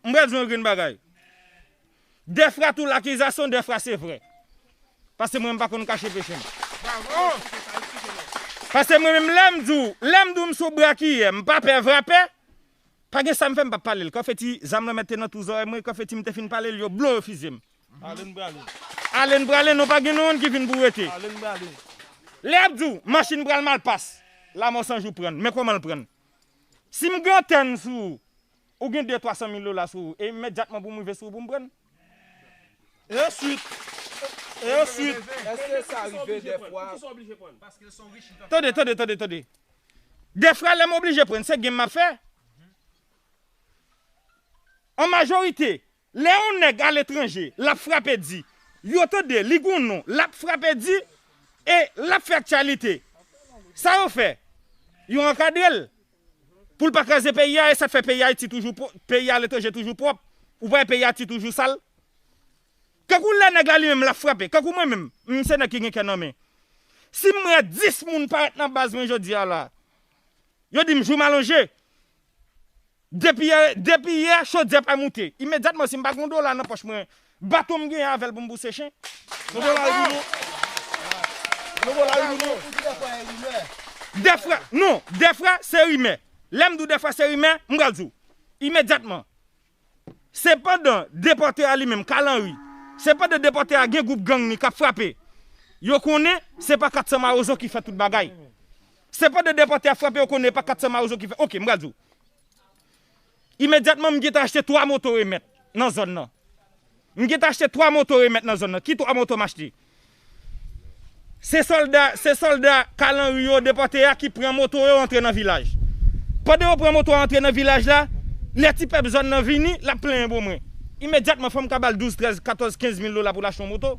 M pral di w yon grenn bagay. Dèfra tout lakizasyon dèfra se vrè. Pase mwen m pa konn kache peche m. Pase mwen menm lè m di w, lè m di w m sou brakiyè, m pa pè vrapè. Pa gen sa m fè m pa pale l. Konfeti zam lanmèd te nan tou zòrèy mwen, konfeti m te fin pale l yo blo yo fize m. Ale n prale. Ale n prale non pa gen nou youn ki vin pou rete. Ale n prale. Lè y ap di w, machin pral malpas. Lamò san jou pran n. Men kòman l pran n. Si m gen antèn sou ou, Ou gen de twa san mil dola sou ou e imediatman pou m rive sou ou pou m pran l? E answit? E answit? Eske sa rive de fwa? Pou ki sa w oblije pran l? Paske l son rich li pap ka. Tande, tande, tande, tande. De fwa lè m oblije pran l, se game m ap fè? An majorite. Lè yon nèg aletranje, l ap frape di, yo tande li gen yon non, l ap frape di e l ap fè aktyalite. Sa yo fè? Yo ankadre l pou l pa kraze peyi a e sa k fè peyi Ayiti toujou, peyi aletranje toujou pwòp. Ou pa wè peyi Ayiti toujou sal? Kankou lè nèg la li menm l ap frape, kankou mwen menm, m se nèg ki gen kè nan men. Si m wè 10 moun parèt nan baz mwen jodi a la, yo di m jou malonje. Depi yè chodyè pa moute. Imedyatman si m pa gen yon dola nan pòch mwen, bato m genyen avè l pou m bouse chen. Yon dola rive ou non. Yon dola rive ou non. Ou di dèfwa e rimè. Dèfwa, non, dèfwa se rimè. Lè m di w dèfwa se rimè, m pral di w. Imedyatman. Sepandan, depòte a li menm, Carl Henry, sepandan depòte a gen gwoup gang li k ap frape, yo konnen se pa 400 mawozo ki fè tout bagay. Se pandan depòte a frape yo konnen e pa 400 mawozo ki fè. Ok, m pral di w. Imedyatman m gentan achte 3 moto remèt nan zòn nan. M gentan achte 3 moto remèt nan zòn nan. Ki 3 moto m achte? Se sòlda, se sòlda Kalanri yo, depòte a, ki pran moto yo antre nan vilaj. Pandan yo pran moto a antre nan vilaj la, lè ti pèp zòn nan vini, l ap plenyen bo mwen. Imedyatman fò m ka ba l 12, 13, 14, 15 mil dola pou l achte yon moto.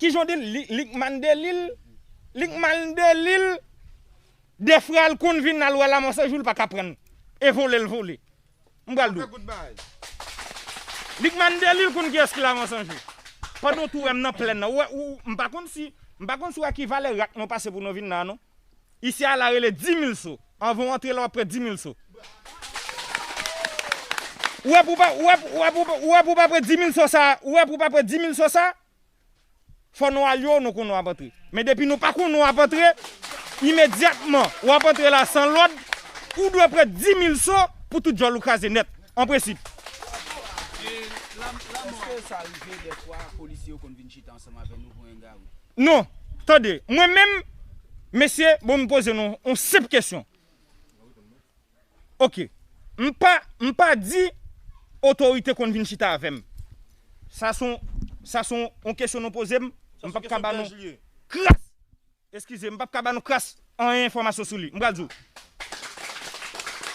Kijan w di l? Li kmann de li l? Li kmann de li l? De frè l konn vin al wè la mò se jou l pa ka pran l. E vole l vole. M pral di w. Li kmann de li l konn kiyès ki la mò san jou. Pandan w tou wè m nan plèn nan. Ou wè ou, m pa konn si, m pa konn si w wè ki valè rak mwen pase pou nou vin nan non. Isi a la rele 10000 so. Anvan w antre la w ap pre 10000 so. Ou wè pou w pa ou wè pou ou wè pou w pa pre 10000 so sa ou wè pou w pa pre 10000 so sa fò nou al yo nou konnen w ap antre. Men depi nou pa konnen w ap antre imedyatman w ap antre la san lòd ou dwe pre 10000 so pou tout djòl ou kraze nèt an prensip. Eske sa rive dèfwa polisye yo konn vin chita ansanm avè nou pou engarou? Non, tande, mwen menm, mesye, bon m poze nou yon senp kesyon. Ok, m pa, m pa di otorite konn vin chita avè m. Sa s on, sa s on, on kesyon nou poze m, m pap ka ba nou kras, eskize, m pap ka ba nou kras anyen enfòmasyon sou li. M pral di w,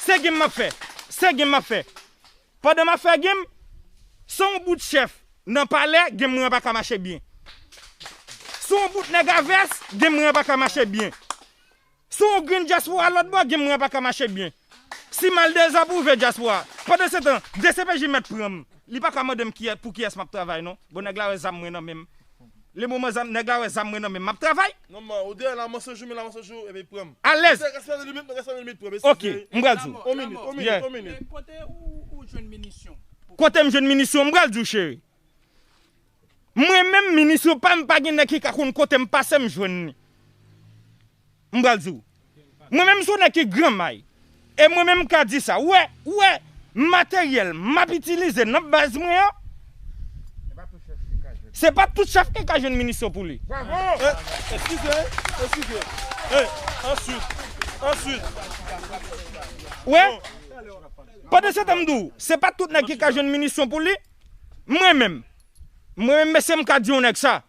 se gin m ap fè, se gin m ap fè. Pandan map fè game San yon bout chèf nan palè game mwen an paka mache byen San yon bout nèg a vès game mwen an paka mache byen San yon grenn dyaspora lòt bò game mwen an paka mache byen Si mal dezapwouve dyaspora Pandansetan dcpj mèt pranm Li paka mandem pou kiyès map travay non Bon nèg la wè zam mwen nan menm Le moman zam nèg la wè zam mwen nan menm map travay. Non man ou deyè la man se jou men la man se jou epi pranm. Alèz. Msye respè nan limit mwen respè nan limit pranm esi cheri. Ok mpral diw. On minit on minit on minit. Men kote ou jwenn minisyon. Kotem jwenn minisyon mpral diw cheri. Mwen menm minisyon pam pa gen nèg ki ka konn kotem pasem jwenn li. M pral di w. Mwen menm s on nèg ki gran may. E mwen menm m ka di sa. Ou wè, ou wè materyèl m ap itilize nan baz mwen an, se pa tout chèf ki ka jwenn minisyon pou li. Bravo! Eskize, eskize. E, answit, answit. Ou wè? Pandansetan m di w, se pa tout nèg ki ka jwenn minisyon pou li. Mwen menm, mwen menm mesye m ka di on nèg sa.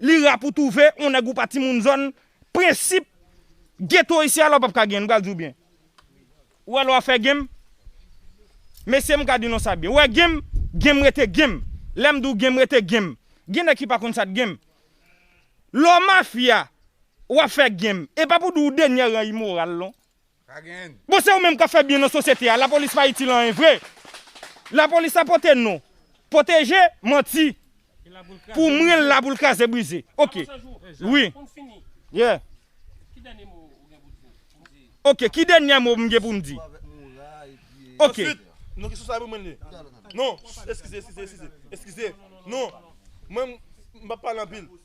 Li ra pou touve yon nèg ou pa timoun zòn prensip geto isi a la w pap ka genyen m pral di w byen ou wè lè w ap fè genm mesye m ka di nou sa byen ou wè genm genm rete genm lè m di w genm rete genm gen nèg ki pa konn sa t genm lè w mafya w ap fè genm e pa pou di w denyè ran imoral non Bon se ou menm kap fè byen nan sosyete a lapolis pa itil anyen vre lapolis la pote non poteje manti pou mwen la poul kraze brize ok wi ye ok ki denyè mo mgen poum di ok.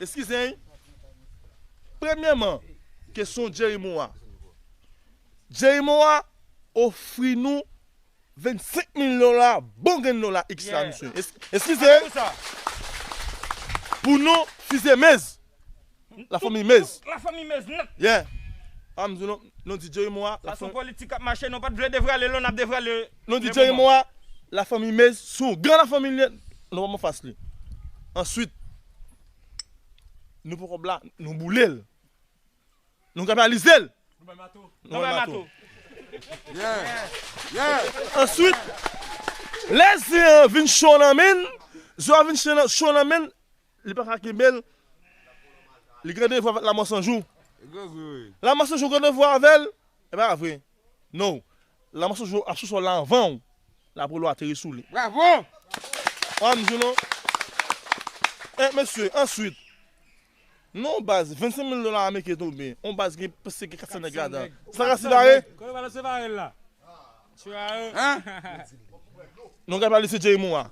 Eskize anh Premyèman kesyon Jerry Moa Jerry Moa ofri nou 25 mil dola bon grenn dola iks la mesye Eskize anh Pou nou fize Mez La fanmi Mez Tout la fanmi Mez nèt Yeah Pam di nou Nou di Jerry Moa Sa son politik kap mache nou pat vle devrale lè nap devrale Nou di Jerry Moa La fanmi Mez son gran la fanmi li nèt Nou pap anfas li Answit. Nou pran kòb la, nou boule l. Nou kanalize l. Nou bay mato. Nou bay mato. Answit, lè ze an vin cho nan men l, ze an vin cho nan men l, li pa ka kenbe l, li gen devwa avèk lanmò sanjou. Lanmò sanjou gen devwa avè l, e pa vre? Non, la mò sou ap sou sòl la anvan w la pou lwa ateri sou li. Bravo! An m di nou, e mesye, answit, nan yon baz 25 mil dola ameriken tonbe, yon baz gen prèske 400 nèg ladan, se pa García Vare? Kote García Vare la? An? Non García Vare se Jerry Moura.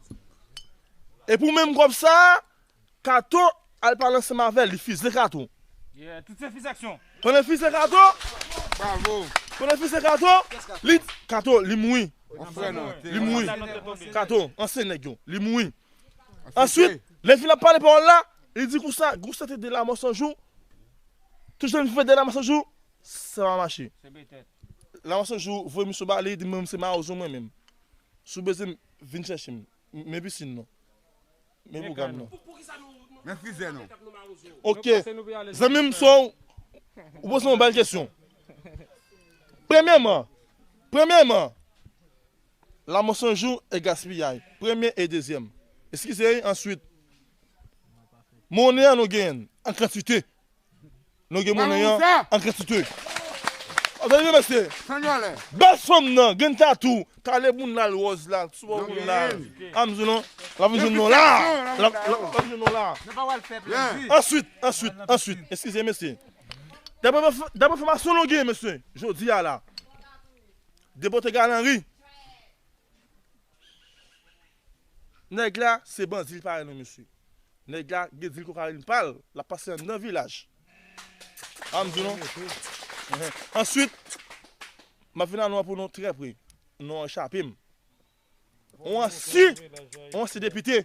E pou menm kòb sa a, Kato al pale ansanm avèl li fils de kato. Yeah tout se fils action. Konnen fils de kato. Bravo. Konnen fils de kato. Li kato li mouri. An frè nou an. Li mouri. Kato anseye nèg yo. Li mouri. Answit lè fin ap pale pawòl la li di konsa gou sante de lamò san jou tout jan vivan de lamò san jou sa pa mache. Lamò san jou voye misyon ba li di mwen menm se mawozo mwen menm si w bezwen m vin chèche m men pisin non. Men pwogram nan. Men frizè nan. Ok. Zanmi m so ou poze yon bèl kesyon. Premyèman, premyèman, lamò san jou e gaspiyay. Premye e dezyèm. Eskize, answit, monnen an nou genyen l an kantite Nou gen monnen an an kantite. Antann yo mesye. Bèl fanm nan gen tatou. Kale moun la lwòz la. Souvan moun la. Am di nou. La vi joun nou la. La vi joun nou la. Answit. Answit. Answit. Eskize mesye. Dapre fomasyon nou gen mesye. Jodi a la. Depote galanri. Nèg la se bandi li pa wè non mesye nèg la gen dil kokayin pal lap pase anndan vilaj a m di nou answit map vin a non an pou nou trè pre non an chapem on ansyen on ansyen depite.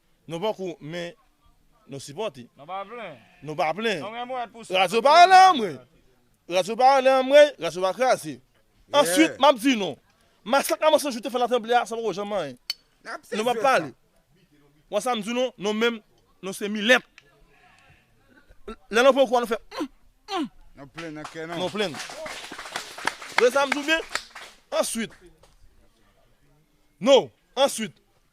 Nou poko men nou sipòte. Nou pa plen. Nou pa plen. Nou gen mouwèt pou sa. Radyo pa anlè anmwey. Radyo pa anlè anmwey. Radyo pa kraze. Answit map di nou. Masak nan Monsanjou te fè nan tranble a sa poko janm anyen. Nou pap pale. Ou wè sam di nou? Nou menm nou se milèt. Lè nou pran kou a nou fè humm humm. Nou plen nan kè nou. Nou plen. Ou wè sam di ou byen? Answit. Nou. Answit.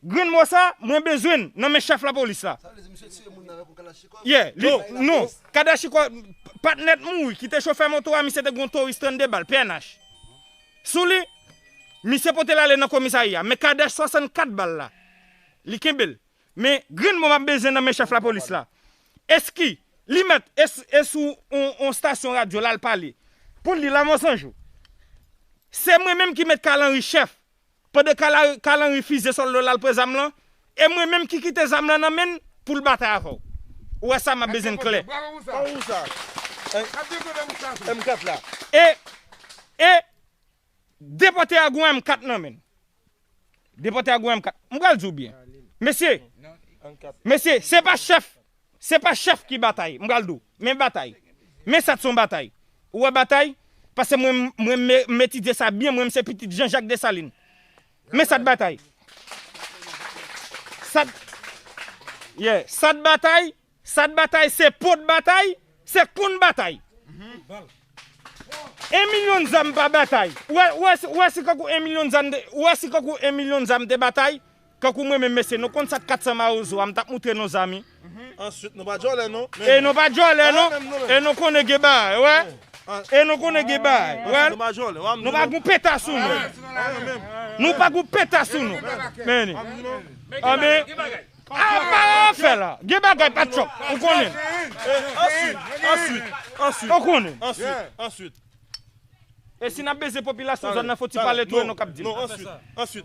Grenn mo sa mwen bezwenn nan men chèf lapolis la. Ye, li, non, kadachikò, patnè t mouri ki te chofè moto a misye te gen yon toris 32 bal, pnh, sou li, misye pote l ale nan komisarya men kadach 64 bal la li kenbe l men grenn mo map bezwen nan men chèf lapolis la eski li mèt e sou yon stasyon radyo lal pale poul di lamò sanjou se mwen menm ki met kalanri chèf Pandan kalan refize solda w la al pran zam lan e mwen menm ki kite zam lan nan men n pou l batay avè w. Ou wè sa m ap beze n klè. E, e, depòte a gwen M4 nan men n. Depòte a gwen M4. M pral di w byen. Mesye, mesye, se pa chèf Se pa chèf ki batay, m pral di w, men batay. Men sa t son batay. Ou wè batay? Pase mwen mwen m etidye sa byen mwen m se pitit Jean Jacques Dessalines. Men sa t batay. Sa t Yeah. Sa t batay, sa t batay se po t batay, se konn batay. 1 milyon zam pa batay. Ou wè si kankou 1 milyon zam, ou wè si kankou 1 milyon zam te batay? Tankou mwen menm mesye nou konn sak 400 mawozo a m tap moutre nou zam wi. Answit nou pa djòlè non. E nou pa djòlè non. E nou konnen gen bagay ou wè. E nou konnen gen bagay ou wè. Nou pa djòlè wa m di nou. Nou pa gon peta sou nou. Nou pa gon peta sou nou. Meni. Anben. Apa afè la. Gen bagay pa tchòp. Ou konnen. Answit. Answit. Answit. Ou konnen. Answit. Answit. E si nap beze popilasyon zòn nan foti pale tou e nou kap di l. Non answit. Answit.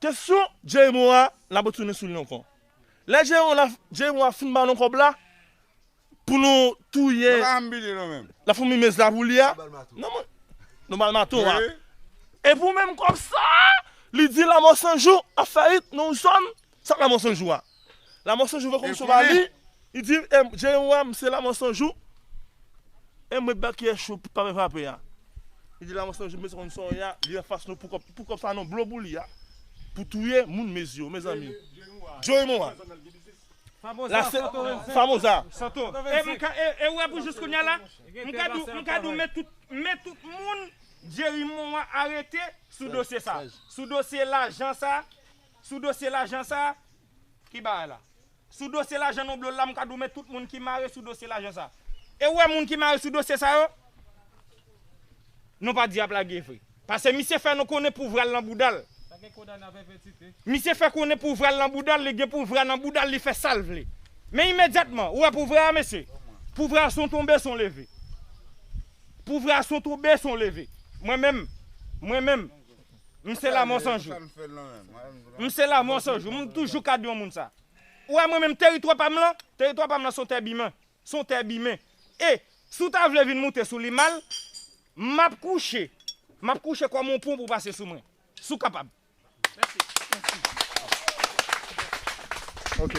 Kesyon Jeymo a la retounen sou li ankò. Lè Jeymo a fin ba nou kòb la pou nou touye la fanmi Mez la pou li a, nou ba l maton a. E pou menm kòb sa a, li di Lamò Sanjou ap fè it nan yon zòn, sa k Lamò Sanjou a? Lamò Sanjou vè kòm sova li, li di Jèn wa m se Lamò Sanjou, e m ret ba kiyè cho pou pa fè frape a. Li di Lamò Sanjou mèsi konn sa w ye a, li anfas nou pou kòb sa non blo pou li a, pou touye moun mezi yo mezanmi. Joe mo a. Famoza. Santo. E ou wè pou jous kounya la, m ka di w, m ka di w men tout, men tout moun Jerry Moa arete sou dosye sa. Sou dosye lajan sa. Sou dosye lajan sa, ki bagay la? Sou dosye lajan Nonblow la m ka di w men tout moun ki mare sou dosye lajan sa. E ou wè moun ki mare sou dosye sa yo? Non pa di y ap lage vre. Pase misye fè nou konnen pouvra l nan bouda l. Misye fè konnen pouvra l nan bouda l, li gen pouvra nan bouda l li fè sa l vle. Men imedyatman, ou wè pouvra a mesye? Pouvra a son tonbe son leve. Pouvra a son tonbe son leve. Mwen menm, mwen menm. M se la mò san jou. M se la mò san jou. M toujou ka di yon moun sa. Ou wè mwen menm teritwa pa m lan, teritwa pa m lan se yon tè bimen. Se yon tè bimen. E, si w ta vle vin moute sou li mal, m ap kouche. M ap kouche kòm yon pon pou w pase sou mwen. Si w kapab. Ok.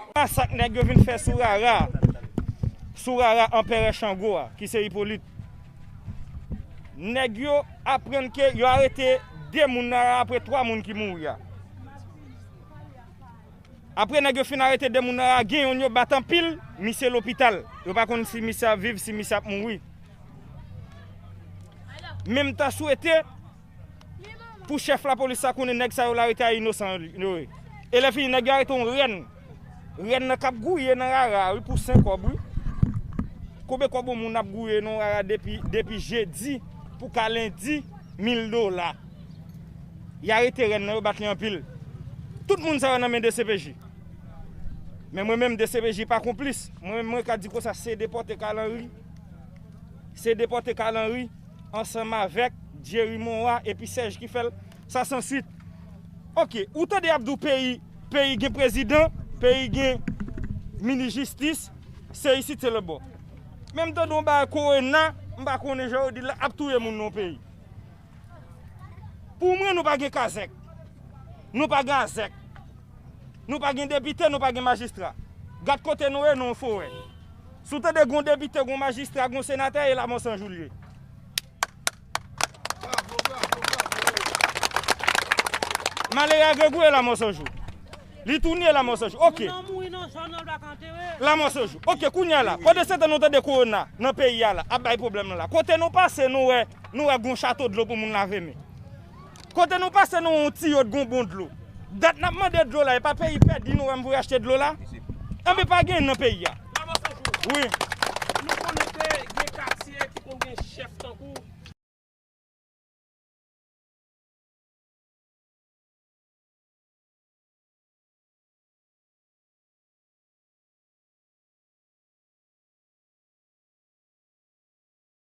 Apa sa k nèg yo vin fè sou Rara a, sou Rara Anperè Chango a ki se Ipolit. Nèg yo aprann ke yo arete 2 moun nan Rara apre 3 moun ki mouri a. Apre nèg yo fin arete 2 moun nan Rara, gen youn yo bat anpil, misye lopital. Yo pa konn si misye ap viv, si misye ap mouri. Men m ta swete. Pou chèf lapolis la konnen nèg sa yo l arete a inosan yo ye. E lè fini nèg yo arete yon rèn. Rèn nan k ap gouye nan rara a wi pou sen kòb wi. Konbe kòb yon moun ap gouye nan yon rara depi jedi pou ka lendi? Mil dola. Y arete rèn nan yo bat li anpil. Tout moun sa yo nan men dcpj. Men mwen menm dcpj pa konplis. Mwen menm mwen ka di konsa se depòte Carl Henry. Se depòte Carl Henry. ansanm avèk Jerry Moa epi Serge ki fèl sa san swit ok ou tande yap diw peyi peyi gen prezidan peyi gen minis jistis se isit se lòtbò menm tande yon bagay korona m pa konnen jan yo dil la ap touye moun nan peyi pou mwen nou pa gen kazèk nou pa gen azèk nou pa gen depite nou pa gen majistra gad kote nou ye nan yon forè. Si w tande gon depite, gon majistra, gon senatè e la mò san jou l ye. Malere a grangou e la mò san jou. Li touni e la mò san jou. Ok. La mò san jou. Ok kounye a la. Pandan se tan nou tande korona nan peyi a la ap bay pwoblèm nan la. Kote nou pase nou wè nou wè gon chato dlo pou moun lave men. Kote nou pase nou wè yon tiyo t gon bon dlo. Dat nap mande dlo la epa peyi pèdi nou wèm pou yo achte dlo la? Anben pa gen nan peyi a. Maman Sanjou. Wi. Nou konnen ke gen katye ki konn gen chèf tankou.